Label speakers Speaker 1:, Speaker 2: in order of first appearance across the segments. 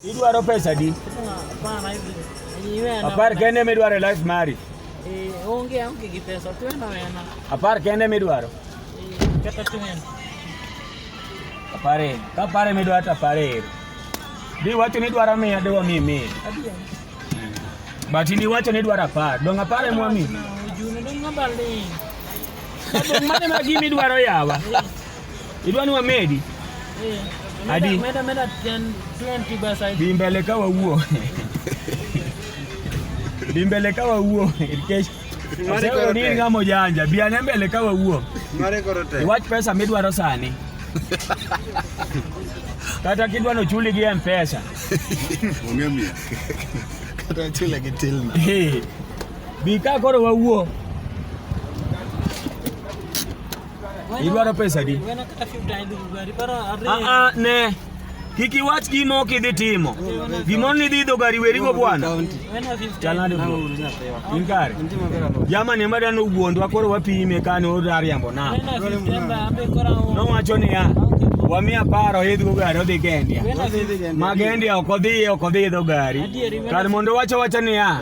Speaker 1: Idwaro pesa di? Apar kende midwaro e life mari? Eh, onge aonge gi pesa, twena wena. Apar kende midwaro? Eh, kata twena. Apare, ka apare midwaro to apare ero. Di wacho ni idwaro miya di wamiyi miya. But in iwacho ni idwaro apar, dong' apar ema wamiyi? Ojuno dong' abaling'. Dong' mane ma gima idwaro yawa? Idwani wamedi? Eh. Adi. Meda meda 10 20 basi. Bimbele kawa huo. Bimbele kawa huo. Irkesh. Mari koro ni ngamo janja. Biane mbele kawa huo. Mari koro te. Watch pesa midwaro sani. Kata kidwa no chuli gi M-Pesa. Onge mi. Kata chule gi tilna. Bi ka koro wawuo. Idwaro pesa di? Ah, ne. Kik iwach gima ok idhi timo. Gimoro ni idhi idho gari werigo bwana. Chalnade bro. In kare. Jamani ema dano wuondwa koro wapime kane oriambo na. Nowacho niya wamiya paro idho gari odhi Gendia. Ma Gendia ok odhi ok odhi idho gari. Kar mondo wacho wacha niya.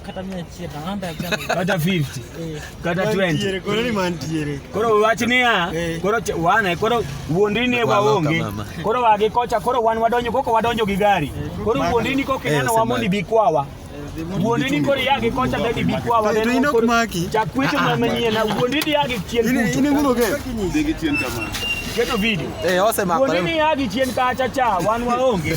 Speaker 1: kata 100 nalanda ya chama kata 50 eh. kata 20 koro ni mantiere koro wach niya eh. koro wana koro wuondini wa onge koro wagi kocha koro wan wadonjo koko wadonjo gi gari eh. koro wuondini koko inano wamoni bikwawa wuondini koro yagi kocha dadi bikwawa to ino kumaki chakwecho ah, ah. manyien wuondini yagi chien ini ini ngulo ke digi chien kama keto video eh ose makore wuondini yagi chien kacha cha wan waonge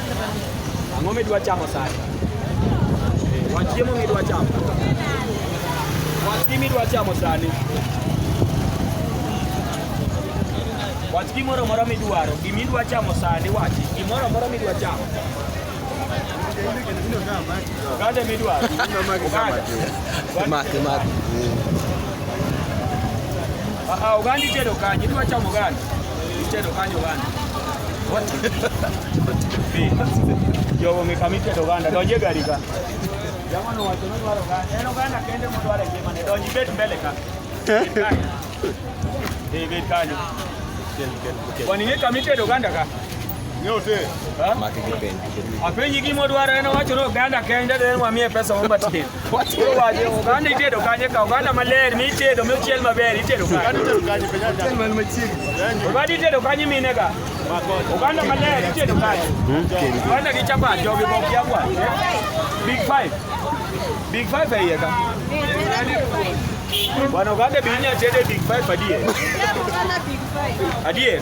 Speaker 1: Ang'o midwa chamo sani? Wach chiemo midwa chamo. Wach gima idwa chamo sani. Wach gimoro moro midwaro, gima idwa chamo sani wachi, gimoro moro midwa chamo. Oganda midwaro. Oganda. Maki maki. Ah, ah, oganda itedo kanye, idwa chamo oganda. Mtedo kanyo ganda. What? Jogo ng'e kama itedo ganda, donj e gari ka. Jamono wacho ni dwaro ganda. En oganda kende modwaro e ngimane, donj ibed mbele ka. Eh, ibed kanyo. Kwani ng'e kama itedo ganda ka? Nyote. Maki kipenji. Apenji gima odwaro en owacho ni oganda kende, then wamiye pesa wambatie. Oganda itedo kanye ka oganda maler mitedo mochiel maber itedo kanye. Oganda itedo kanye mine ka. Oganda maler itedo kanye. Oganda gi chapat jogi bok yakwa. Big five. Big five e iye ka. Bwana oganda bi inya tede big five adier. Adier.